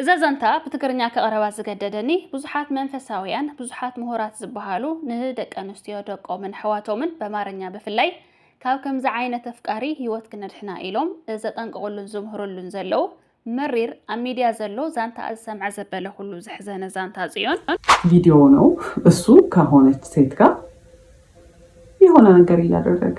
እዛ ዛንታ ብትግርኛ ክቕርባ ዝገደደኒ ብዙሓት መንፈሳውያን ብዙሓት ምሁራት ዝበሃሉ ንደቂ ኣንስትዮ ደቆምን ኣሕዋቶምን በማርኛ ብፍላይ ካብ ከምዚ ዓይነት ኣፍቃሪ ህይወት ክነድሕና ኢሎም ዘጠንቅቕሉን ዝምህርሉን ዘለዉ መሪር ኣብ ሚድያ ዘሎ ዛንታ ዝሰምዐ ዘበለ ኩሉ ዘሕዘነ ዛንታ ፅዮን ቪዲዮ ነው እሱ ከሆነች ሴት ጋር የሆነ ነገር እያደረገ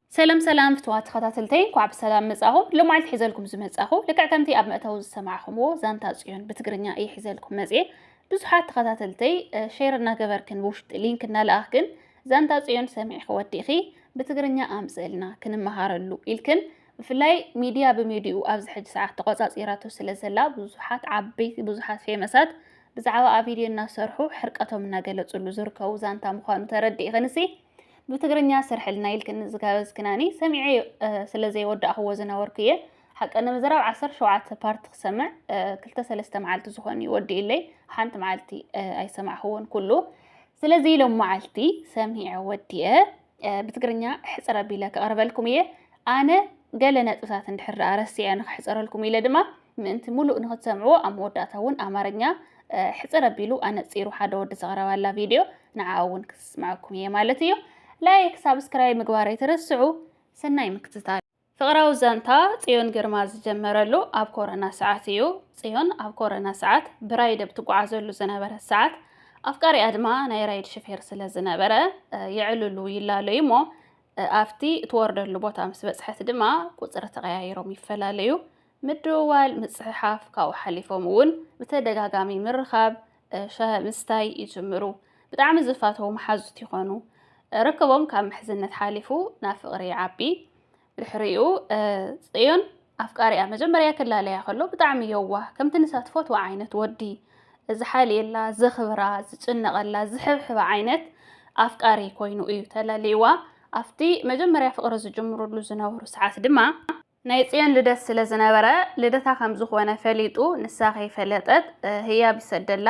ሰላም ሰላም ፍትዋት ተኸታተልተይ እንኳዕ ብሰላም መጻኹም። ሎማዓልቲ ሒዘልኩም ዝመጻኹ ልክዕ ከምቲ ኣብ መእተዊ ዝሰማዕኹምዎ ዛንታ ጽዮን ብትግርኛ እየ ሒዘልኩም መጽኤ። ብዙሓት ተኸታተልተይ ሼር እናገበርክን ብውሽጢ ሊንክ እናለኣኽክን ዛንታ ጽዮን ሰሚዕኺ ወዲእኺ ብትግርኛ ኣምጽእልና ክንመሃረሉ ኢልክን ብፍላይ ሚድያ ብሚድኡ ኣብዚ ሕጂ ሰዓት ተቆጻጺራቶ ስለ ዘላ ብዙሓት ዓበይቲ ብዙሓት ፌመሳት ብዛዕባ ኣብ ቪድዮ እናሰርሑ ሕርቀቶም እናገለጽሉ ዝርከቡ ዛንታ ምዃኑ ተረዲእኽንሲ ብትግርኛ ስርሕልና ኢልክኒ ዝጋበዝክናኒ ሰሚዐ ስለ ዘይወዳእኽዎ ዝነበርኩ እየ ሓቂ ንምዝራብ ዓሰርተ ሸውዓተ ፓርቲ ክሰምዕ ክልተ ሰለስተ መዓልቲ ዝኾን እዩ ወዲኡለይ ሓንቲ መዓልቲ ኣይሰማዕኽዎን ኩሉ ስለዚ ኢሎም መዓልቲ ሰሚዐ ወዲየ ብትግርኛ ሕፅረ ቢለ ከቕርበልኩም እየ ኣነ ገለ ነጥብታት እንድሕር ዳኣ ረሲዐ ንክሕፀረልኩም ኢለ ድማ ምእንቲ ሙሉእ ንክትሰምዕዎ ኣብ መወዳእታ እውን ኣማርኛ ሕፅር ኣቢሉ ኣነፂሩ ሓደ ወዲ ዘቕረባላ ቪድዮ ንዓኣ እውን ክስምዐኩም እየ ማለት እዩ። ላይክ ሳብስክራይብ ምግባር ኣይትረስዑ። ሰናይ ምክትታል። ፍቕራዊ ዛንታ ጽዮን ግርማ ዝጀመረሉ ኣብ ኮረና ሰዓት እዩ። ጽዮን ኣብ ኮረና ሰዓት ብራይድ ኣብ ትጓዓዘሉ ዝነበረት ሰዓት ኣፍቃሪኣ ድማ ናይ ራይድ ሽፌር ስለ ዝነበረ የዕልሉ ይላለዩ እሞ ኣብቲ እትወርደሉ ቦታ ምስ በጽሐት ድማ ቁጽሪ ተቐያይሮም ይፈላለዩ። ምድውዋል፣ ምጽሕሓፍ፣ ካብኡ ሓሊፎም እውን ብተደጋጋሚ ምርኻብ፣ ሻሂ ምስታይ ይጅምሩ። ብጣዕሚ ዝፋተዉ መሓዙት ይኾኑ። ርክቦም ካብ ምሕዝነት ሓሊፉ ናብ ፍቕሪ ይዓቢ። ድሕሪኡ ጽዮን ኣፍቃሪኣ መጀመርያ ክላለያ ከሎ ብጣዕሚ የዋህ ከምቲ ንሳ ትፈትዎ ዓይነት ወዲ ዝሓልየላ፣ ዘኽብራ፣ ዝጭነቐላ፣ ዝሕብሕባ ዓይነት ኣፍቃሪ ኮይኑ እዩ ተላልይዋ። ኣብቲ መጀመርያ ፍቕሪ ዝጅምርሉ ዝነበሩ ሰዓት ድማ ናይ ጽዮን ልደት ስለ ዝነበረ ልደታ ከም ዝኾነ ፈሊጡ ንሳ ከይፈለጠት ህያብ ይሰደላ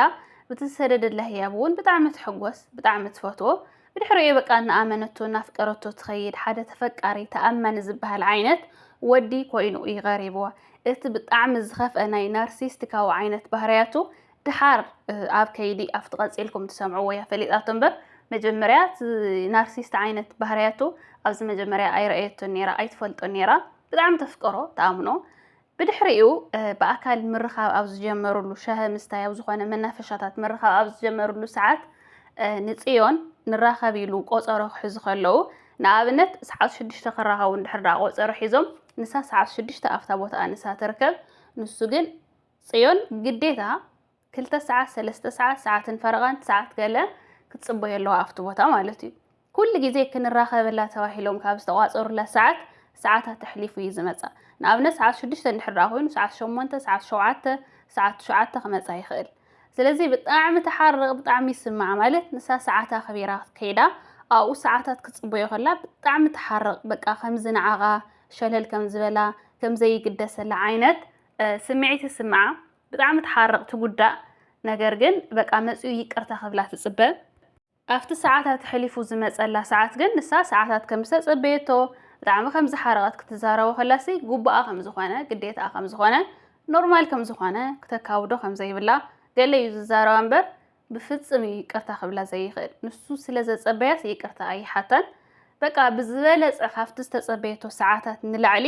ብትሰደደላ ህያብ እውን ብጣዕሚ ትሕጎስ ብጣዕሚ ትፈትዎ ብድሕሪኡ በቃ እናኣመነቶ እናፍቀረቶ ትኸይድ ሓደ ተፈቃሪ ተኣማኒ ዝበሃል ዓይነት ወዲ ኮይኑ እዩ ቀሪብዋ እቲ ብጣዕሚ ዝኸፍአ ናይ ናርሲስቲካዊ ዓይነት ባህርያቱ ድሓር ኣብ ከይዲ ኣብቲ ቀፂልኩም ትሰምዕዎ እያ ፈሊጣቶ እምበር መጀመርያ እቲ ናርሲስት ዓይነት ባህርያቱ ኣብዚ መጀመርያ ኣይረኣየቶን ነይራ ኣይትፈልጦን ነይራ ብጣዕሚ ተፍቀሮ ተኣምኖ ብድሕሪኡ ብኣካል ምርኻብ ኣብ ዝጀመርሉ ሻሂ ምስታይ ኣብ ዝኾነ መናፈሻታት ምርኻብ ኣብ ዝጀመርሉ ሰዓት ንፅዮን ንራኸብ ኢሉ ቆፀሮ ክሕዙ ከለዉ ንኣብነት ሰዓት ሽዱሽተ ክራኸቡ እንድሕር ደኣ ቆፀሮ ሒዞም ንሳ ሰዓት ሽዱሽተ ኣብታ ቦታኣ ንሳ ትርከብ ንሱ ግን ጽዮን ግዴታ ክልተ ሰዓት ሰለስተ ሰዓት ሰዓትን ፈረቓን ሰዓት ገለ ክትጽበዮ ኣለዋ ኣብቲ ቦታ ማለት እዩ። ኩሉ ግዜ ክንራኸበላ ተባሂሎም ካብ ዝተቋጸሩላ ሰዓት ሰዓታት ተሕሊፉ እዩ ዝመጻ። ንኣብነት ሰዓት ሽዱሽተ እንድሕር ደኣ ኮይኑ ሰዓት ሸሞንተ ሰዓት ሸውዓተ ሰዓት ትሽዓተ ክመጻ ይኽእል። ስለዚ ብጣዕሚ ትሓርቕ ብጣዕሚ ይስማዓ ማለት ንሳ ሰዓት ኣኽቢራ ክትከይዳ ኣብኡ ሰዓታት ክትጽበዮ ከላ ብጣዕሚ ትሓርቕ በቃ ከምዚ ንዓኻ ሸለል ከም ዝበላ ከም ዘይግደሰላ ዓይነት ስምዒት ይስምዓ ብጣዕሚ ትሓርቕ ትጉዳእ ነገር ግን በቃ መፅኡ ይቅርታ ክብላ ትፅበ ኣብቲ ሰዓታት ሕሊፉ ዝመፀላ ሰዓት ግን ንሳ ሰዓታት ከም ዝተፀበየቶ ብጣዕሚ ከም ዝሓረቐት ክትዛረቦ ከላሲ ጉባኣ ከም ዝኾነ ግዴታኣ ከም ዝኾነ ኖርማል ከም ዝኾነ ክተካብዶ ከም ዘይብላ ገለ እዩ ዝዛረባ እምበር ብፍጽም እዩ ይቅርታ ክብላ ዘይኽእል። ንሱ ስለ ዘጸበያስ ይቅርታ ኣይሓታን። በቃ ብዝበለጸ ካብቲ ዝተጸበየቶ ሰዓታት ንላዕሊ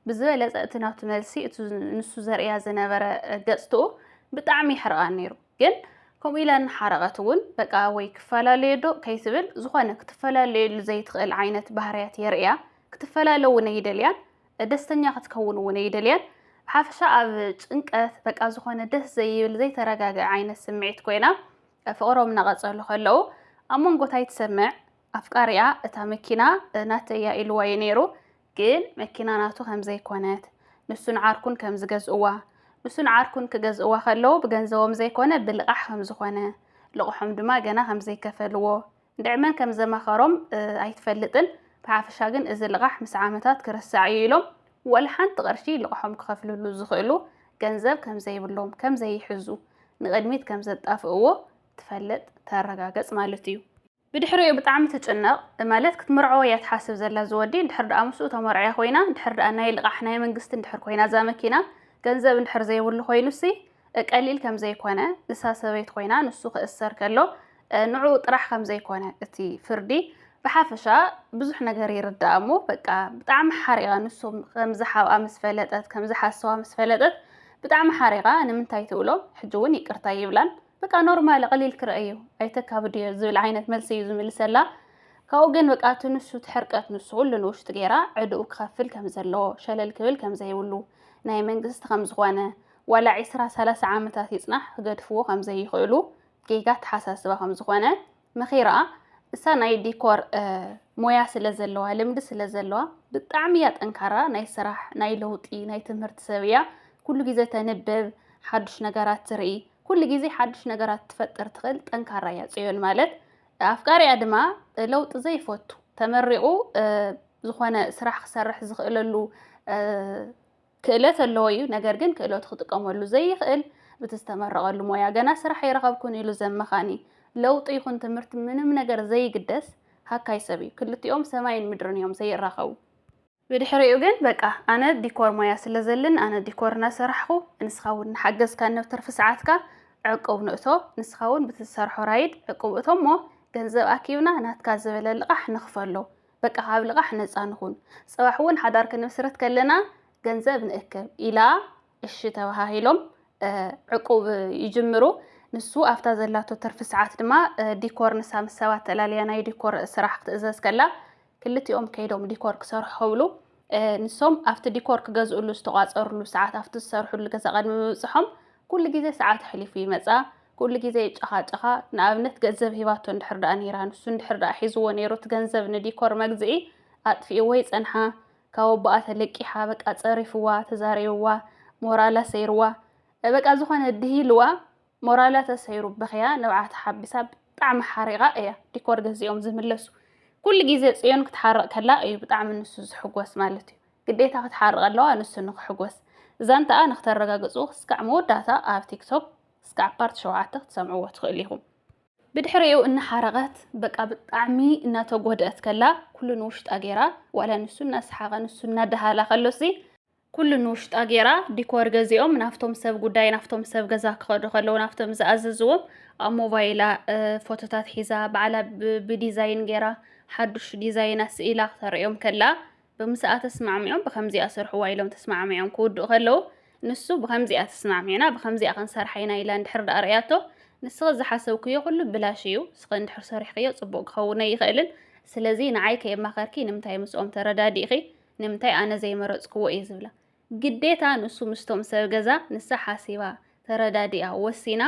ብዝበለጸ እቲ ናቱ መልሲ እቲ ንሱ ዘርእያ ዝነበረ ገጽትኡ ብጣዕሚ ይሕርቓ ነይሩ ግን ከምኡ ኢላ እናሓረቐት እውን በቃ ወይ ክፈላለየ ዶ ከይትብል ዝኾነ ክትፈላለየሉ ዘይትኽእል ዓይነት ባህርያት የርእያ ክትፈላለ እውን ኣይደልያን ደስተኛ ክትከውን እውን ኣይደልያን ብሓፈሻ ኣብ ጭንቀት በቃ ዝኾነ ደስ ዘይብል ዘይተረጋግዐ ዓይነት ስምዒት ኮይና ፍቕሮም እናቐጸሉ ከለዉ ኣብ መንጎታይ ትሰምዕ ኣፍቃሪኣ እታ መኪና ናተይ እያ ኢልዋ እዩ ነይሩ ግን መኪና ናቱ ከም ዘይኮነት ንሱን ዓርኩን ከም ዝገዝእዋ ንሱን ዓርኩን ክገዝእዋ ከለዉ ብገንዘቦም ዘይኮነ ብልቓሕ ከም ዝኾነ ልቕሖም ድማ ገና ከም ዘይከፈልዎ እንድዒ መን ከም ዘመኸሮም ኣይትፈልጥን፣ ብሓፈሻ ግን እዚ ልቓሕ ምስ ዓመታት ክርሳዕ እዩ ኢሎም ዋላ ሓንቲ ቅርሺ ልቕሖም ክኸፍልሉ ዝኽእሉ ገንዘብ ከም ዘይብሎም፣ ከም ዘይሕዙ፣ ንቕድሚት ከም ዘጣፍእዎ ትፈልጥ፣ ተረጋገጽ ማለት እዩ። ብድሕሪኡ ብጣዕሚ ትጭነቕ፣ ማለት ክትምርዖ እያ ትሓስብ ዘላ እዚ ወዲ፣ እንድሕር ድኣ ምስኡ ተመርዕያ ኮይና፣ እንድሕር ድኣ ናይ ልቓሕ ናይ መንግስቲ እንድሕር ኮይና እዛ መኪና፣ ገንዘብ እንድሕር ዘይብሉ ኮይኑሲ ቀሊል ከም ዘይኮነ፣ ንሳ ሰበይቱ ኮይና ንሱ ክእሰር ከሎ ንዕኡ ጥራሕ ከም ዘይኮነ እቲ ፍርዲ ብሓፈሻ ብዙሕ ነገር ይርዳእ እሞ በቃ ብጣዕሚ ሓሪቓ ንሶም ከም ዝሓብኣ ምስ ፈለጠት ከም ዝሓሰዋ ምስ ፈለጠት ብጣዕሚ ሓሪቓ ንምንታይ ትብሎ ሕጂ እውን ይቅርታ ይብላን በቃ ኖርማል ቐሊል ክርአ እዩ ኣይተካብድዮ ዝብል ዓይነት መልሲ እዩ ዝምልሰላ ካብኡ ግን በቃ እቲ ንሱ እቲ ሕርቀት ንሱ ኩሉ ንውሽጢ ገይራ ዕድኡ ክኸፍል ከም ዘለዎ ሸለል ክብል ከም ዘይብሉ ናይ መንግስቲ ከም ዝኾነ ዋላ ዒስራ ሰላሳ ዓመታት ይጽናሕ ክገድፍዎ ከም ዘይኽእሉ ጌጋ ኣተሓሳስባ ከም ዝኾነ መኺራ እሳ ናይ ዲኮር ሞያ ስለ ዘለዋ ልምዲ ስለ ዘለዋ ብጣዕሚ እያ ጠንካራ ናይ ስራሕ ናይ ለውጢ ናይ ትምህርቲ ሰብ እያ ኩሉ ግዜ ተንብብ ሓዱሽ ነገራት ትርኢ ኩሉ ግዜ ሓዱሽ ነገራት ትፈጥር ትኽእል ጠንካራ እያ ፅዮን ማለት ኣፍቃሪኣ ድማ ለውጢ ዘይፈቱ ተመሪቑ ዝኾነ ስራሕ ክሰርሕ ዝኽእለሉ ክእለት ኣለዎ እዩ፣ ነገር ግን ክእለቱ ክጥቀመሉ ዘይኽእል፣ ብቲ ዝተመረቐሉ ሞያ ገና ስራሕ ኣይረኸብኩን ኢሉ ዘመኻኒ፣ ለውጢ ይኹን ትምህርቲ ምንም ነገር ዘይግደስ ሃካይ ሰብ እዩ። ክልቲኦም ሰማይን ምድርን እዮም ዘይራኸቡ። ብድሕሪኡ ግን በቃ ኣነ ዲኮር ሞያ ስለ ዘልን ኣነ ዲኮር እናሰራሕኹ ንስኻ እውን እናሓገዝካኒ ኣብ ትርፊ ሰዓትካ ዕቁብ ንእቶ፣ ንስኻ እውን ብቲ ዝሰርሖ ራይድ ዕቁብ እቶ እሞ ገንዘብ ኣኪብና ናትካ ዝበለ ልቓሕ ንኽፈሎ፣ በቃ ካብ ልቓሕ ነጻ ንኹን፣ ጽባሕ እውን ሓዳር ክንምስርት ከለና ገንዘብ ንእከብ ኢላ እሺ ተበሃሂሎም ዕቁብ ይጅምሩ። ንሱ ኣብታ ዘላቶ ትርፊ ሰዓት ድማ ዲኮር ንሳ ምስ ሰባት ተላልያ ናይ ዲኮር ስራሕ ክትእዘዝ ከላ ክልቲኦም ከይዶም ዲኮር ክሰርሑ ክብሉ ንሶም ኣብቲ ዲኮር ክገዝእሉ ዝተቋፀርሉ ሰዓት ኣብቲ ዝሰርሕሉ ገዛ ቅድሚ ምብፅሖም ኩሉ ግዜ ሰዓት ኣሕሊፉ ይመፃ ኩሉ ግዜ ይጨኻጨኻ ንኣብነት ገንዘብ ሂባቶ እንድሕር ደኣ ነይራ ንሱ እንድሕር ደኣ ሒዝዎ ነይሩ እቲ ገንዘብ ንዲኮር መግዝኢ ኣጥፊእዎ ይፀንሓ ካብ ኣቦኣ ተለቂሓ በቃ ፀሪፍዋ ተዛሪብዋ ሞራላ ሰይርዋ በቃ ዝኾነ ድሂልዋ ሞራላ ተሰይሩ በኽያ ንብዓታ ሓቢሳ ብጣዕሚ ሓሪቃ እያ ዲኮር ገዚኦም ዝምለሱ ኩሉ ግዜ ጽዮን ክትሓርቅ ከላ እዩ ብጣዕሚ ንሱ ዝሕጎስ ማለት እዩ ግዴታ ክትሓርቅ ኣለዋ ንሱ ንክሕጎስ ዛንትኣ ንክተረጋግጹ ክስካዕ መወዳእታ ኣብ ቲክቶክ ክስካዕ ፓርት ሸውዓተ ክትሰምዕዎ ትክእሉ ኢኩም ብድሕሪኡ እናሓረቀት በቃ ብጣዕሚ እናተጎድእት ከላ ኩሉ ንውሽጣ ጌራ ዋላ ንሱ እናሰሓቀ ንሱ እናደሃላ ከሎሲ። ኩሉ ንውሽጣ ጌራ ዲኮር ገዚኦም ናፍቶም ሰብ ጉዳይ ናፍቶም ሰብ ገዛ ክኸዱ ከለዉ ናፍቶም ዝኣዘዝዎም ኣብ ሞባይላ ፎቶታት ሒዛ ባዕላ ብዲዛይን ጌራ ሓዱሽ ዲዛይና ስኢላ ክተርእዮም ከላ ብምስኣ ተስማዕሚዖም ብከምዚኣ ስርሕዋ ኢሎም ተስማዕሚዖም ክውድኡ ከለዉ ንሱ ብከምዚኣ ተስማዕሚዕና ብከምዚኣ ክንሰርሓ ኢና ኢላ እንድሕር ደኣ ርእያቶ ንስኺ ዝሓሰብክዮ ኩሉ ብላሽ እዩ ንስኺ እንድሕር ሰሪሕክዮ ጽቡቕ ክኸውነ ይኽእልን ስለዚ ንዓይ ከየማኸርኪ ንምንታይ ምስኦም ተረዳዲእኺ ንምንታይ ኣነ ዘይመረጽክዎ እየ ዝብላ ግዴታ ንሱ ምስቶም ሰብ ገዛ ንሳ ሓሲባ ተረዳዲኣ ወሲና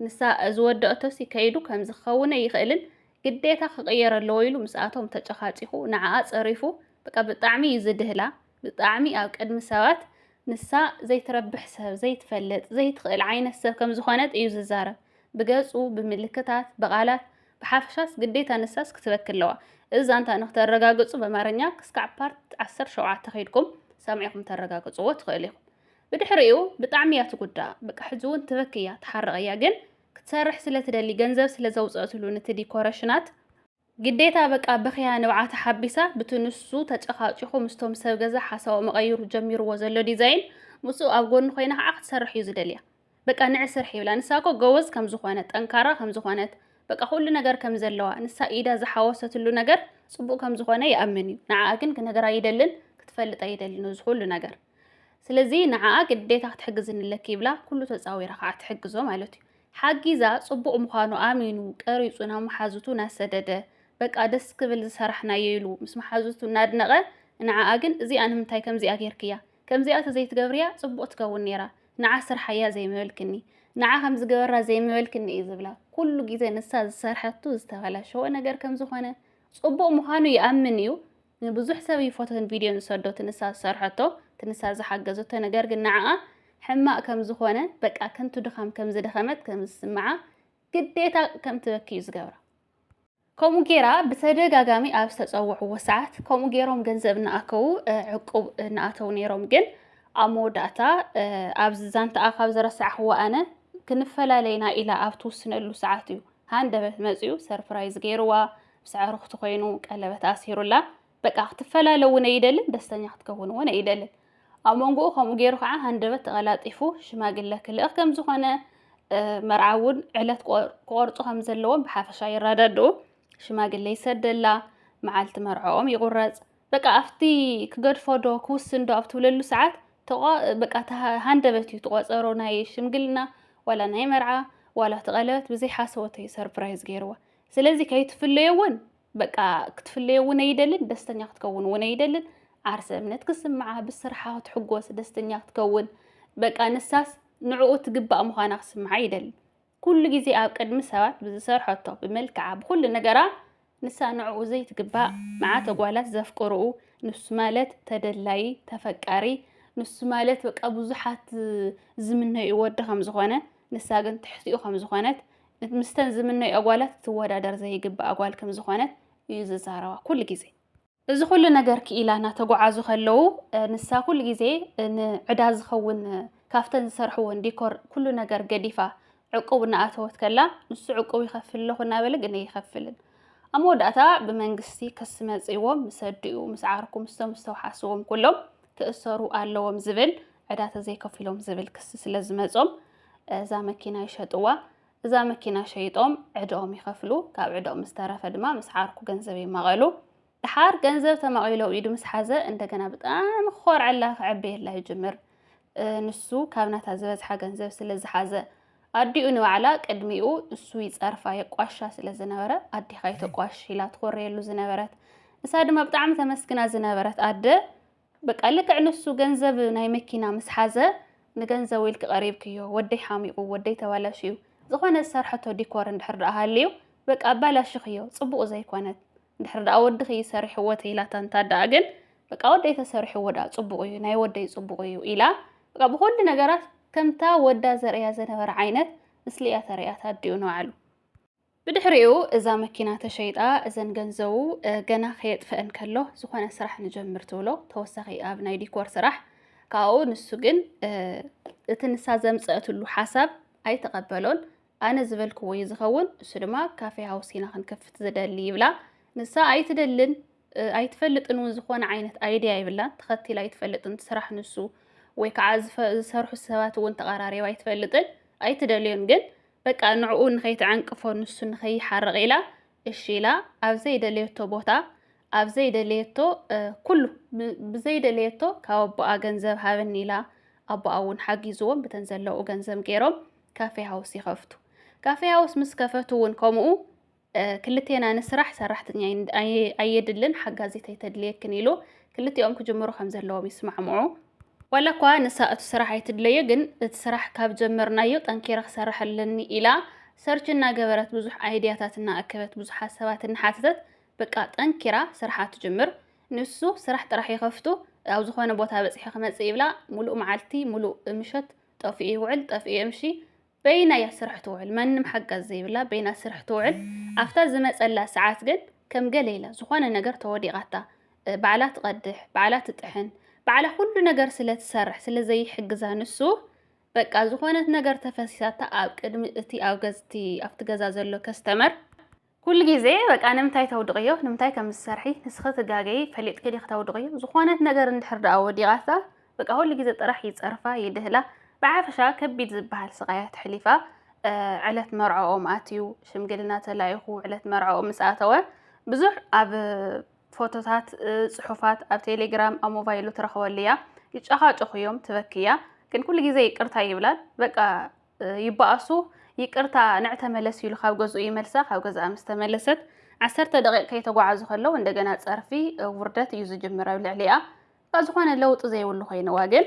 ንሳ ዝወደኦቶሲ ከይዱ ከምዚ ክኸውን ኣይኽእልን ግዴታ ክቕየር ኣለዎ ኢሉ ምስኣቶም ተጨኻጪኹ ንዓኣ ጸሪፉ በቃ ብጣዕሚ እዩ ዝድህላ ብጣዕሚ ኣብ ቅድሚ ሰባት ንሳ ዘይትረብሕ ሰብ ዘይትፈልጥ ዘይትኽእል ዓይነት ሰብ ከም ዝኾነት እዩ ዝዛረብ ብገጹ ብምልክታት ብቓላት ብሓፈሻስ ግዴታ ንሳስ ክትበኪ ኣለዋ። እዚ ዛንታ ንክተረጋግጹ በማርኛ ክስካዕ ፓርት ዓሰርተ ሸውዓተ ከይድኩም ሰሚዕኩም ተረጋግጽዎ ትክእሉ ኢኩም። ብድሕሪኡ ብጣዕሚ እያ ትጉዳእ በቃ ሕጂ ውን ትበኪ እያ ትሓርቅ እያ ግን ክትሰርሕ ስለ ትደሊ ገንዘብ ስለ ዘውጸእትሉ ንቲ ዲኮረሽናት ግዴታ በቃ በክያ ንብዓታ ሓቢሳ ብቲ ንሱ ተጨካጪኩ ምስቶም ሰብ ገዛ ሓሳቡ መቀይሩ ጀሚርዎ ዘሎ ዲዛይን ምስኡ ኣብ ጎኑ ኮይና ከዓ ክትሰርሕ እዩ ዝደልያ። በቃ ንዒ ስርሒ ይብላ ንሳ እኮ ጎበዝ ከም ዝኾነት ጠንካራ ከም ዝኾነት በቃ ኩሉ ነገር ከም ዘለዋ ንሳ ኢዳ ዝሓወሰትሉ ነገር ጽቡቅ ከም ዝኾነ ይኣምን እዩ ንዓኣ ግን ክነገራ ይደልን ክትፈልጣ ይደልን እዚ ኩሉ ነገር ስለዚ ንዓኣ ግዴታ ክትሕግዝኒ ኣለኪ ይብላ ኩሉ ተጻዊራ ከዓ ትሕግዞ ማለት እዩ ሓጊዛ ጽቡቅ ምዃኑ ኣሚኑ ቀሪጹ ናብ መሓዙቱ ናሰደደ በቃ ደስ ክብል ዝሰራሕናዮ ኢሉ ምስ መሓዙቱ እናድነቐ ንዓኣ ግን እዚኣ ንምንታይ ከምዚኣ ጌርክያ ከምዚኣ ተዘይትገብርያ ጽቡቅ ትከውን ኔራ ንዓ ስርሓያ ዘይምበልክኒ ንዓ ከምዚ ግበራ ዘይምበልክኒ እዩ ዝብላ ኩሉ ግዜ ንሳ ዝሰርሐቱ ዝተበላሸወ ነገር ከምዝኾነ ጽቡቅ ምዃኑ ይኣምን እዩ ንብዙሕ ሰብ እዩ ፎቶን ቪድዮን ዝሰዶ ትንሳ ዝሰርሐቶ ትንሳ ዝሓገዘቶ ነገር ግን ንዓኣ ሕማቅ ከምዝኾነ በቃ ከንቱ ድኻም ከምዝደኸመት ከምዝስምዓ ግዴታ ከምትበኪ እዩ ዝገብራ ከምኡ ጌራ ብተደጋጋሚ ኣብ ዝተጸውዕዎ ሰዓት ከምኡ ጌሮም ገንዘብ እናኣከቡ ዕቁብ እናኣተው ነይሮም ግን ኣብ መወዳእታ ኣብዚ ዛንታኣ ካብ ዘረሳዕኽዎ ኣነ ክንፈላለይና ኢላ ኣብ ትውስነሉ ሰዓት እዩ ሃንደበት መፅኡ ሰርፕራይዝ ገይርዋ ምስ ኣዕርኽቱ ኮይኑ ቀለበት ኣሲሩላ በቃ ክትፈላለ እውን ኣይደልን፣ ደስተኛ ክትከውን እውን ኣይደልን። ኣብ መንጎኡ ከምኡ ገይሩ ከዓ ሃንደበት ተቐላጢፉ ሽማግለ ክልእኽ ከም ዝኾነ መርዓ እውን ዕለት ክቆርፁ ከም ዘለዎም ብሓፈሻ ይረዳድኡ። ሽማግለ ይሰደላ፣ መዓልቲ መርዕኦም ይቑረፅ። በቃ ኣብቲ ክገድፎ ዶ ክውስን ዶ ኣብ ትብለሉ ሰዓት በቃ ሃንደበት እዩ ትቆፀሮ ናይ ሽምግልና ዋላ ናይ መርዓ ዋላ እቲ ቀለበት ብዘይ ሓሰወተዩ ሰርፕራይዝ ገይርዋ። ስለዚ ከይትፍለዮ እውን በቃ ክትፍለዮ እውን ኣይደልን፣ ደስተኛ ክትከውን እውን ኣይደልን። ዓርሰ እምነት ክስምዓ፣ ብስርሓ ክትሕጎስ፣ ደስተኛ ክትከውን፣ በቃ ንሳስ ንዕኡ ትግባእ ምዃና ክስምዓ ኣይደልን። ኩሉ ግዜ ኣብ ቅድሚ ሰባት ብዝሰርሐቶ፣ ብመልክዓ፣ ብኩሉ ነገራ ንሳ ንዕኡ ዘይትግባእ መዓት ኣጓላት ዘፍቅርኡ ንሱ ማለት ተደላዪ ተፈቃሪ ንሱ ማለት በቃ ብዙሓት ዝምነዩ ወዲ ከም ዝኾነ ንሳ ግን ትሕቲኡ ከም ዝኾነት ምስተን ዝምነይኦ ጓላት ክትወዳደር ዘይግባኣ ጓል ከም ዝኾነት እዩ ዝዛረባ ኩሉ ግዜ። እዚ ኩሉ ነገር ክኢላ እናተጓዓዙ ከለዉ ንሳ ኩሉ ግዜ ንዕዳ ዝኸውን ካብተን ዝሰርሕዎን ዲኮር ኩሉ ነገር ገዲፋ ዕቁብ እናኣተወት ከላ ንሱ ዕቁብ ይኸፍል ኣለኹ እናበለ ግን ኣይኸፍልን። ኣብ መወዳእታ ብመንግስቲ ክሲ መጺእዎም ምስ ኣዲኡ፣ ምስ ዓርኩ፣ ምስቶም ዝተውሓስዎም ኩሎም ክእሰሩ ኣለዎም ዝብል ዕዳ ተዘይከፊሎም ዝብል ክሲ ስለ ዝመጾም እዛ መኪና ይሸጥዋ። እዛ መኪና ሸይጦም ዕድኦም ይኸፍሉ። ካብ ዕድኦም ዝተረፈ ድማ ምስ ዓርኩ ገንዘብ ይማቐሉ። ድሓር ገንዘብ ተማቒሉ ኣብ ኢዱ ምስ ሓዘ እንደገና ብጣዕሚ ክኾርዐላ ክዕበየላ ይጅምር። ንሱ ካብ ናታ ዝበዝሓ ገንዘብ ስለ ዝሓዘ ኣዲኡ ንባዕላ ቅድሚኡ እሱ ይጸርፋ የቋሻ ስለ ዝነበረ ኣዴኻ ይተቋሽ ኢላ ትኾረየሉ ዝነበረት ንሳ ድማ ብጣዕሚ ተመስግና ዝነበረት ኣደ በቃ ልክዕ ንሱ ገንዘብ ናይ መኪና ምስ ሓዘ ንገንዘብ ኢልኪ ቀሪብክዮ ወደይ ሓሚቑ ወደይ ተባላሽዩ ዝኾነ ዝሰርሐቶ ዲኮር እንድሕር ደኣ ሃልዩ በቃ ኣባላሽኽዮ ጽቡቕ ዘይኮነት እንድሕር ደኣ ወድኺ እዩ ሰሪሕዎ ተይላታ እንታ ደኣ ግን በቃ ወደይ ተሰሪሕዎ ደኣ ጽቡቕ እዩ ናይ ወደይ ጽቡቕ እዩ ኢላ በቃ ብኹሉ ነገራት ከምታ ወዳ ዘርእያ ዘነበረ ዓይነት ምስሊ እያ ተርእያታ ኣዲኡ ንባዕሉ ብድሕሪኡ እዛ መኪና ተሸይጣ እዘን ገንዘቡ ገና ከየጥፈአን ከሎ ዝኾነ ስራሕ ንጀምር ትብሎ ተወሳኺ ኣብ ናይ ዲኮር ስራሕ ካብኡ ንሱ ግን እቲ ንሳ ዘምፀእትሉ ሓሳብ ኣይተቐበሎን ኣነ ዝበልክዎ እዩ ዝኸውን እሱ ድማ ካፌ ሃውስ ኢና ክንከፍት ዝደሊ ይብላ ንሳ ኣይትደልን ኣይትፈልጥን እውን ዝኾነ ዓይነት ኣይድያ ይብላን ተኸቲል ኣይትፈልጥን ስራሕ ንሱ ወይ ከዓ ዝሰርሑ ሰባት እውን ተቐራሪባ ኣይትፈልጥን ኣይትደልዮን ግን በቃ ንዕኡ ንኸይትዐንቅፎ ንሱ ንኸይሓርቕ ኢላ እሺ ኢላ ኣብ ዘይደለየቶ ቦታ ኣብ ዘይደለየቶ ኩሉ ብዘይደለየቶ ካብ ኣቦኣ ገንዘብ ሃበኒ ኢላ ኣቦኣ እውን ሓጊዝዎም ብተን ዘለዉ ገንዘብ ገይሮም ካፌ ሃውስ ይኸፍቱ። ካፌ ሃውስ ምስ ከፈቱ እውን ከምኡ ክልቴና ንስራሕ፣ ሰራሕተኛ ኣየድልን፣ ሓጋዚት ኣይተድልየክን ኢሉ ክልቲኦም ክጅምሩ ከም ዘለዎም ይስማዕምዑ። ዋላ እኳ ንሳ እቲ ስራሕ ኣይትድለዮ፣ ግን እቲ ስራሕ ካብ ጀመርናዮ ጠንኪረ ክሰርሕ ኣለኒ ኢላ ሰርች እናገበረት ብዙሕ ኣይድያታት እናኣከበት ብዙሓት ሰባት እናሓተተት በቃ ጠንኪራ ስርሓ ትጅምር። ንሱ ስራሕ ጥራሕ ይኸፍቱ ኣብ ዝኾነ ቦታ በፂሑ ክመፅእ ይብላ ሙሉእ መዓልቲ ሙሉእ ምሸት ጠፊኡ ይውዕል ጠፊኡ የምሺ በይና እያ ስራሕ ትውዕል መንም ሓጋዚ ዘይብላ በይና ስርሕ ትውዕል ኣፍታ ዝመጸላ ሰዓት ግን ከም ገለ ኢላ ዝኾነ ነገር ተወዲቓታ ባዕላ ትቐድሕ ባዕላ ትጥሕን ባዕላ ኩሉ ነገር ስለ ትሰርሕ ስለ ዘይሕግዛ ንሱ በቃ ዝኾነት ነገር ተፈሲሳታ ኣብ ቅድሚ እቲ ኣብ ገዝቲ ኣብቲ ገዛ ዘሎ ከስተመር ኩሉ ግዜ በቃ ንምንታይ ተውድቕዮ ንምንታይ ከም ዝሰርሒ ንስኺ ትጋገይ ፈሊጥኪ ዲኺ ተውድቕዮ ዝኾነት ነገር እንድሕር ደኣ ወዲቓታ በቃ ኩሉ ግዜ ጥራሕ ይጸርፋ ይድህላ ብዓፈሻ ከቢድ ዝበሃል ስቓያ ተሕሊፋ ዕለት መርዖኦም ኣትዩ ሽምግልና ተላኢኹ ዕለት መርዖኦም ምስ ኣተወ ብዙሕ ኣብ ፎቶታት ጽሑፋት ኣብ ቴሌግራም ኣብ ሞባይሉ ትረኽበሉ እያ ይጨኻጨኹ እዮም ትበክያ ግን ኩሉ ግዜ ይቅርታ ይብላል በቃ ይበኣሱ ይቅርታ ንዕ ተመለስ ኢሉ ካብ ገዝኡ ይመልሳ ካብ ገዝኣ ምስ ተመለሰት ዓሰርተ ደቂቅ ከይተጓዓዙ ከለው እንደገና ጸርፊ ውርደት እዩ ዝጅምር ኣብ ልዕሊኣ ካብ ዝኾነ ለውጢ ዘይብሉ ኮይንዋ ግን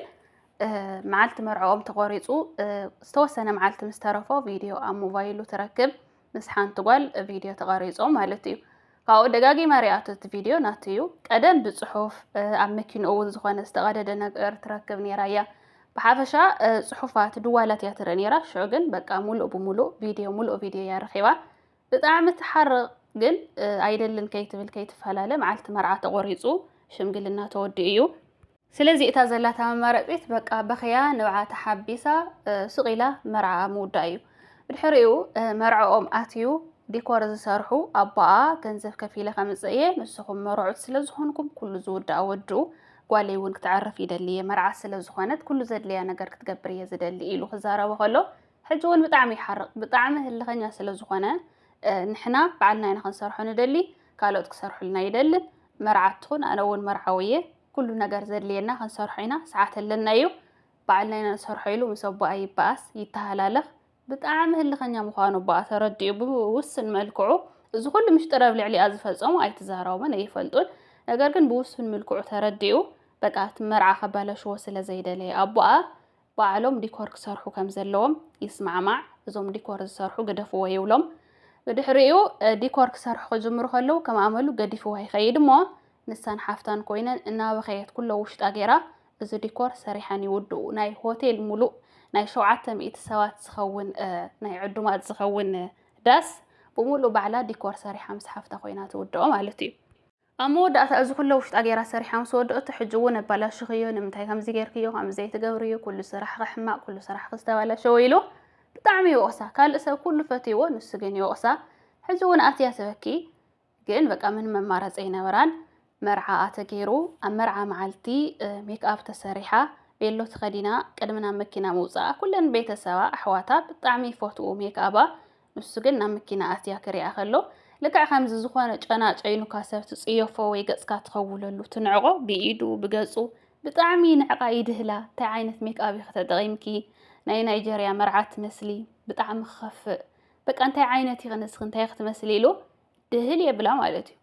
መዓልቲ መርዕኦም ተቆሪጹ ዝተወሰነ መዓልቲ ምስ ተረፎ ቪድዮ ኣብ ሞባይሉ ትረክብ ምስ ሓንቲ ጓል ቪድዮ ተቐሪጾ ማለት እዩ ካብኡ ደጋጊማ ሪኣቶ እቲ ቪድዮ ናቱ እዩ ቀደም ብፅሑፍ ኣብ መኪንኡ እውን ዝኾነ ዝተቐደደ ነገር ትረክብ ነይራ እያ ብሓፈሻ ፅሑፋት ድዋላት እያ ትርኢ ነይራ ሽዑ ግን በቃ ሙሉእ ብሙሉእ ቪድዮ ሙሉእ ቪድዮ እያ ረኺባ ብጣዕሚ ትሓርቕ ግን ኣይደልን ከይትብል ከይትፈላለ መዓልቲ መርዓ ተቖሪፁ ሽምግልና ተወዲኡ እዩ ስለዚ እታ ዘላታ መማረጺት በቃ በኽያ ንብዓ ተሓቢሳ ሱቕ ኢላ መርዓኣ ምውዳእ እዩ። ብድሕሪኡ መርዕኦም ኣትዩ ዲኮር ዝሰርሑ ኣቦኣ ገንዘብ ከፊለ ከምጽእ እየ ንስኹም መርዑት ስለ ዝኾንኩም ኩሉ ዝውዳእ ወድኡ ጓለይ እውን ክትዕርፍ ይደሊ እየ መርዓ ስለ ዝኾነት ኩሉ ዘድልያ ነገር ክትገብር እየ ዝደሊ ኢሉ ክዛረቦ ከሎ ሕጂ እውን ብጣዕሚ ይሓርቕ ብጣዕሚ ህልኸኛ ስለ ዝኾነ ንሕና በዓልና ኢና ክንሰርሖ ንደሊ ካልኦት ክሰርሑልና ይደልን መርዓት ትኹን ኣነ እውን መርዓዊ እየ ኩሉ ነገር ዘድልየና ክንሰርሖ ኢና ሰዓት ኣለና እዩ በዓልና ኢና ንሰርሖ ኢሉ ምስ ኣቦኣ ይበኣስ ይተሃላለኽ ብጣዕሚ ህልኸኛ ምዃኑ ኣቦኣ ተረዲኡ ብውስን መልክዑ እዚ ኩሉ ምሽጥር ኣብ ልዕሊኣ ዝፈጸሙ ኣይትዛረቦምን ኣይፈልጡን ነገር ግን ብውሱን ምልክዑ ተረዲኡ በቃ እቲ መርዓ ከባላሽዎ ስለ ዘይደለየ ኣቦኣ ባዕሎም ዲኮር ክሰርሑ ከም ዘለዎም ይስማዕማዕ፣ እዞም ዲኮር ዝሰርሑ ግደፍዎ ይብሎም። ብድሕሪኡ ዲኮር ክሰርሑ ክጅምሩ ከለዉ ከም ኣመሉ ገዲፍዋ ይኸይድ እሞ ንሳን ሓፍታን ኮይነን እናበኸየት ኩሎ ውሽጣ ገይራ እዚ ዲኮር ሰሪሐን ይውድኡ። ናይ ሆቴል ሙሉእ ናይ ሸውዓተ ሚእቲ ሰባት ዝኸውን ናይ ዕዱማት ዝኸውን ዳስ ብሙሉእ ባዕላ ዲኮር ሰሪሓ ምስ ሓፍታ ኮይና ትውድኦ ማለት እዩ። ኣብ መወዳእታ እዚ ኩለ ውሽጣ ጌራ ሰሪሓ ምስ ወደኦቶ ሕጂ ውን ኣባላሽኽዮ ንምንታይ ከምዚ ጌርክዮ ከምዚ ዘይትገብርዮ ኩሉ ስራሕኺ ሕማቅ ኩሉ ስራሕኺ ዝተባላሸወ ኢሉ ብጣዕሚ ይወቅሳ ካልእ ሰብ ኩሉ ፈትይዎ ንሱ ግን ይወቅሳ ሕጂ ውን ኣትያ ትበኪ ግን በቃ ምንም ኣማራጺ ኣይነበራን መርዓኣ ተጌሩ ኣብ መርዓ መዓልቲ ሜክኣፕ ተሰሪሓ ቤሎ ተኸዲና ቅድሚ ናብ መኪና ምውጻኣ ኩለን ቤተሰባ ኣሕዋታ ብጣዕሚ ይፈትዉ ሜክኣባ ንሱ ግን ናብ መኪና ኣትያ ክሪኣ ከሎ ልክዕ ከምዚ ዝኾነ ጨና ጨይኑካ ሰብ ትጽየፎ ወይ ገጽካ ትኸውለሉ ትንዕቆ ብኢዱ ብገጹ ብጣዕሚ ንዕቃ ይድህላ እንታይ ዓይነት ሜክኣብ ኢኺ ተጠቒምኪ ናይ ናይጀርያ መርዓ ትመስሊ ብጣዕሚ ክኸፍእ በቃ እንታይ ዓይነት ኢኺ ንስኺ እንታይ ክትመስሊ ኢሉ ድህል የብላ ማለት እዩ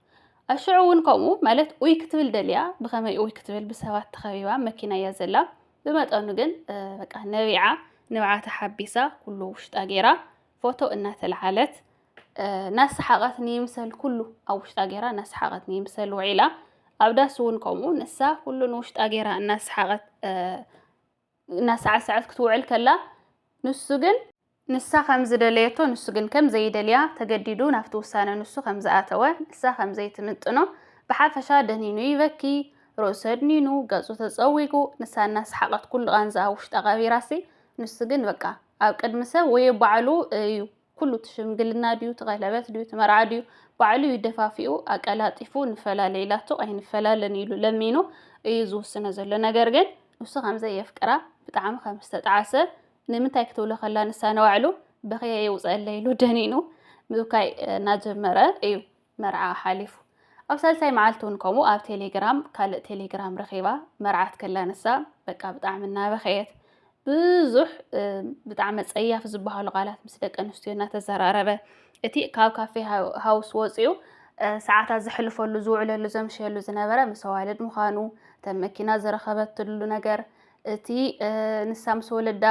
ኣሽዑ እውን ከምኡ ማለት ኡይ ክትብል ደልያ ብኸመይ ኡይ ክትብል ብሰባት ተኸቢባ መኪና እያ ዘላ ብመጠኑ ግን በቃ ነቢዓ ንብዓታ ሓቢሳ ኩሉ ውሽጣ ገይራ ፎቶ እናተለዓለት ናሰሓቐት ንይምሰል ኩሉ ኣብ ውሽጣ ገይራ ናሰሓቐት ንይምሰል ውዒላ ኣብ ዳስ እውን ከምኡ ንሳ ኩሉ ንውሽጣ ገይራ እናሰሓቐት እናሳዕሰዐት ክትውዕል ከላ፣ ንሱ ግን። ንሳ ከም ዝደለየቶ፣ ንሱ ግን ከም ዘይደልያ፣ ተገዲዱ ናብቲ ውሳነ ንሱ ከም ዝኣተወ፣ ንሳ ከም ዘይትምጥኖ፣ ብሓፈሻ ደኒኑ ይበኪ፣ ርእሱ ኣድኒኑ፣ ገጹ ተጸዊጉ፣ ንሳ እናሰሓቐት ኩሉ ቓንዛኣ ውሽጣ ቀቢራሲ፣ ንሱ ግን በቃ ኣብ ቅድሚ ሰብ ወዮ ባዕሉ እዩ ኩሉ እቲ ሽምግልና ድዩ እቲ ቀለበት ድዩ እቲ መርዓ ድዩ ባዕሉ እዩ ደፋፊኡ ኣቀላጢፉ ንፈላለ ኢላቶ ኣይንፈላለን ኢሉ ለሚኑ እዩ ዝውስኖ ዘሎ ነገር ግን ንሱ ከምዘይ የፍቅራ ብጣዕሚ ከም ዝተጣዓሰ ንምንታይ ክትብሎ ከላ ንሳ ንባዕሉ በኽየ የውፀለይ ኢሉ ደኒኑ ምብካይ እናጀመረ እዩ መርዓኣ ሓሊፉ ኣብ ሳልሳይ መዓልቲ ውን ከምኡ ኣብ ቴሌግራም ካልእ ቴሌግራም ረኺባ መርዓት ከላ ንሳ በቃ ብጣዕሚ እናበኸየት ብዙሕ ብጣዕሚ ጸያፍ ዝበሃሉ ቃላት ምስ ደቂ ኣንስትዮ እናተዘራረበ እቲ ካብ ካፌ ሃውስ ወፂኡ ሰዓታት ዘሕልፈሉ ዝውዕለሉ ዘምሸሉ ዝነበረ ምስ ኣዋልድ ምዃኑ እተን መኪና ዝረኸበትሉ ነገር እቲ ንሳ ምስ ወለዳ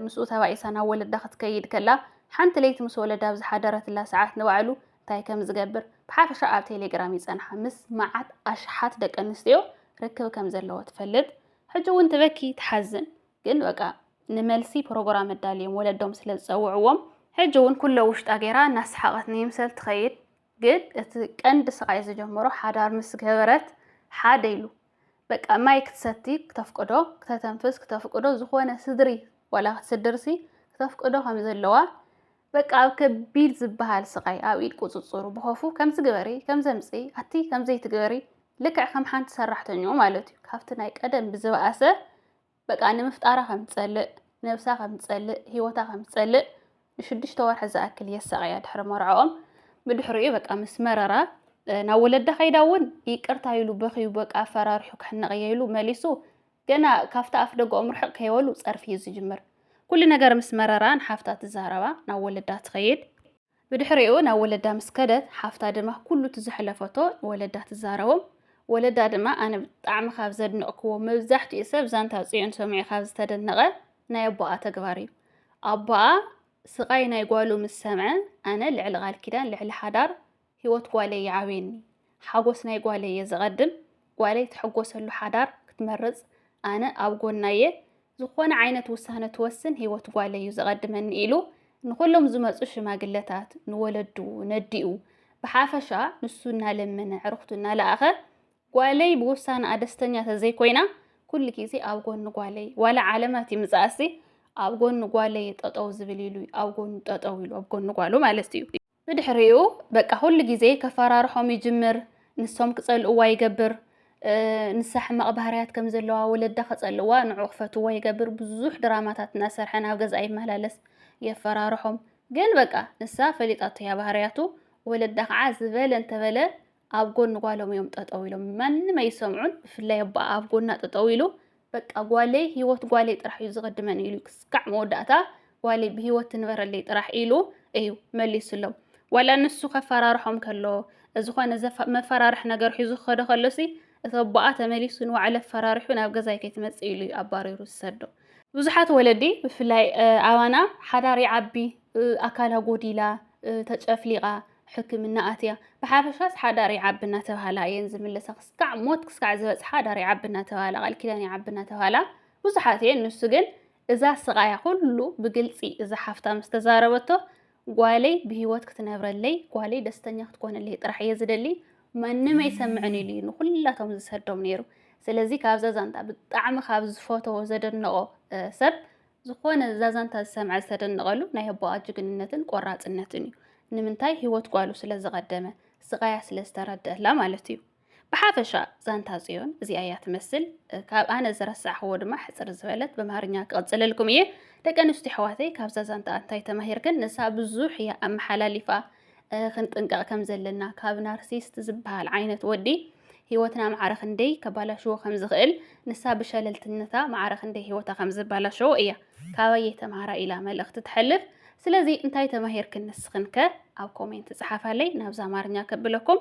ምስኡ ተባኢሳ ናብ ወለዳ ክትከይድ ከላ ሓንቲ ለይቲ ምስ ወለዳ ኣብ ዝሓደረትላ ሰዓት ንባዕሉ ታይ ከም ዝገብር ብሓፈሻ ኣብ ቴሌግራም ይፀንሓ ምስ መዓት ኣሽሓት ደቂ ኣንስትዮ ርክብ ከም ዘለዎ ትፈልጥ ሕጂ እውን ትበኪ ትሓዝን ግን በቃ ንመልሲ ፕሮግራም ኣዳልዮም ወለዶም ስለ ዝፀውዕዎም ሕጂ እውን ኩሎ ውሽጣ ገይራ እናሰሓቐት ንይምሰል ትኸይድ ግን እቲ ቀንዲ ስቓይ ዝጀመሮ ሓዳር ምስ ገበረት ሓደ ኢሉ በቃ ማይ ክትሰቲ ክተፍቅዶ ክተተንፍስ ክተፍቅዶ ዝኾነ ስድሪ ዋላ ክትስድርሲ ክተፍቅዶ ከም ዘለዋ በቃ ኣብ ከቢድ ዝበሃል ስቓይ ኣብ ኢድ ቁጽጽሩ ብኸፉ ከምዚ ግበሪ ከምዚ ኣምጽኢ ኣቲ ከምዚ ኣይትግበሪ ልክዕ ከም ሓንቲ ሰራሕተኛኡ ማለት እዩ ካብቲ ናይ ቀደም ብዝበኣሰ በቃ ንምፍጣራ ከም ትጸልእ ነብሳ ከም ትጸልእ ህይወታ ከም ትጸልእ ንሽዱሽተ ወርሒ ዝኣክል የሳቐያ ድሕሪ መርዕኦም ብድሕሪኡ በቃ ምስ መረራ ናብ ወለዳ ከይዳ እውን ይቅርታ ኢሉ በኽዩ በቃ ኣፈራርሑ ክሕነቕ እየ ኢሉ መሊሱ ገና ካብቲ ኣፍደገኦም ርሕቕ ከይበሉ ጸርፊ እዩ ዝጅምር። ኩሉ ነገር ምስ መረራ ንሓፍታ ትዛረባ፣ ናብ ወለዳ ትኸይድ። ብድሕሪኡ ናብ ወለዳ ምስ ከደት፣ ሓፍታ ድማ ኩሉ እቲ ዘሕለፈቶ ንወለዳ ትዛረቦም። ወለዳ ድማ ኣነ ብጣዕሚ ካብ ዘድነቕኩዎ፣ መብዛሕትኡ ሰብ ዛንታ ጽዮን ሰሚዑ ካብ ዝተደነቐ ናይ ኣቦኣ ተግባር እዩ። ኣቦኣ ስቓይ ናይ ጓሉ ምስ ሰምዐ ኣነ ልዕሊ ቃል ኪዳን፣ ልዕሊ ሓዳር፣ ህይወት ጓለይ ይዓብየኒ፣ ሓጎስ ናይ ጓለይ እየ ዘቐድም፣ ጓለይ ትሕጎሰሉ ሓዳር ክትመርጽ ኣነ ኣብ ጎና እየ፣ ዝኾነ ዓይነት ውሳነ ትወስን ህይወት ጓለይ እዩ ዘቐድመኒ ኢሉ ንኹሎም ዝመጹ ሽማግለታት፣ ንወለዱ፣ ነዲኡ ብሓፈሻ ንሱ እናለመነ ኣዕርኽቱ እናለኣኸ ጓለይ ብውሳነኣ ደስተኛ ተዘይኮይና ኩሉ ግዜ ኣብ ጎኒ ጓለይ ዋላ ዓለማት ይምጽኣሲ ኣብ ጎኒ ጓለይ ጠጠው ዝብል ኢሉ ኣብ ጎኑ ጠጠው ኢሉ ኣብ ጎኒ ጓሉ ማለት እዩ። ብድሕሪኡ በቃ ኩሉ ግዜ ከፈራርሖም ይጅምር፣ ንሶም ክጸልእዋ ይገብር፣ ንሳ ሕማቕ ባህርያት ከም ዘለዋ ወለዳ ከጸልእዋ ንዑ ክፈትዋ ይገብር፣ ብዙሕ ድራማታት እናሰርሐ ናብ ገዝኣ ይመላለስ የፈራርሖም፣ ግን በቃ ንሳ ፈሊጣቶ እያ ባህርያቱ፣ ወለዳ ከዓ ዝበለ እንተበለ ኣብ ጎኒ ጓሎም እዮም ጠጠው ኢሎም ማንም ኣይሰምዑን ብፍላይ ኣቦኣ ኣብ ጎና ጠጠው ኢሉ በቃ ጓለይ ሂወት ጓለይ ጥራሕ እዩ ዝቕድመኒ ኢሉ ክስካዕ መወዳእታ ጓለይ ብሂወት ትንበረለይ ጥራሕ ኢሉ እዩ መሊሱሎም ዋላ ንሱ ከፈራርሖም ከሎ ዝኾነ መፈራርሒ ነገር ሒዙ ክኸደ ከሎሲ እቲ ኣቦኣ ተመሊሱ ንባዕሉ ኣፈራርሑ ናብ ገዛይ ከይትመፅእ ኢሉ እዩ ኣባሪሩ ዝሰዶ ብዙሓት ወለዲ ብፍላይ ኣባና ሓዳር ይዓቢ ኣካላ ጎዲላ ተጨፍሊቓ ሕክምና ኣትያ። ብሓፈሻስ ሓዳር ይዓቢ እናተብሃላ እየን ዝምለሳ። ክስካዕ ሞት ክስካዕ ዝበጽሓ ሓዳር ይዓቢ እናተብሃላ፣ ቃል ኪዳን ይዓቢ እናተብሃላ ብዙሓት እየን። ንሱ ግን እዛ ስቓያ ኩሉ ብግልጺ እዛ ሓፍታ ምስ ተዛረበቶ ጓለይ ብህይወት ክትነብረለይ፣ ጓለይ ደስተኛ ክትኮነለይ ጥራሕ እየ ዝደሊ፣ ማንም ኣይሰምዕን ኢሉ እዩ ንኹላቶም ዝሰዶም ነይሩ። ስለዚ ካብዛ ዛንታ ብጣዕሚ ካብ ዝፈተዎ ዘደነቆ ሰብ ዝኾነ እዛ ዛንታ ዝሰምዐ ዝተደነቐሉ ናይ ኣቦኣ ጅግንነትን ቆራፅነትን እዩ። ንምንታይ ህይወት ጓሉ ስለ ዝቐደመ ስቓያ ስለ ዝተረድአላ ማለት እዩ። ብሓፈሻ ዛንታ ፅዮን እዚኣ እያ ትመስል። ካብ ኣነ ዝረሳዕኽዎ ድማ ሕፅር ዝበለት በምሃርኛ ክቕፅለልኩም እየ። ደቂ ኣንስትዮ ኣሕዋተይ ካብዛ ዛንታ እንታይ ተማሂርክን? ንሳ ብዙሕ እያ ኣመሓላሊፋ። ክንጥንቀቕ ከም ዘለና ካብ ናርሲስት ዝበሃል ዓይነት ወዲ ህይወትና ማዕረ ክንደይ ከባላሽዎ ከም ዝኽእል ንሳ ብሸለልትነታ ማዕረ ክንደይ ህይወታ ከም ዝበላሸዎ እያ ካባየ ተምሃራ ኢላ መልእኽቲ ትሐልፍ። ስለዚ እንታይ ተማሂርክን ንስኽን ከ ኣብ ኮሜንት ጸሓፋለይ ናብዛ ኣማርኛ ከብለኩም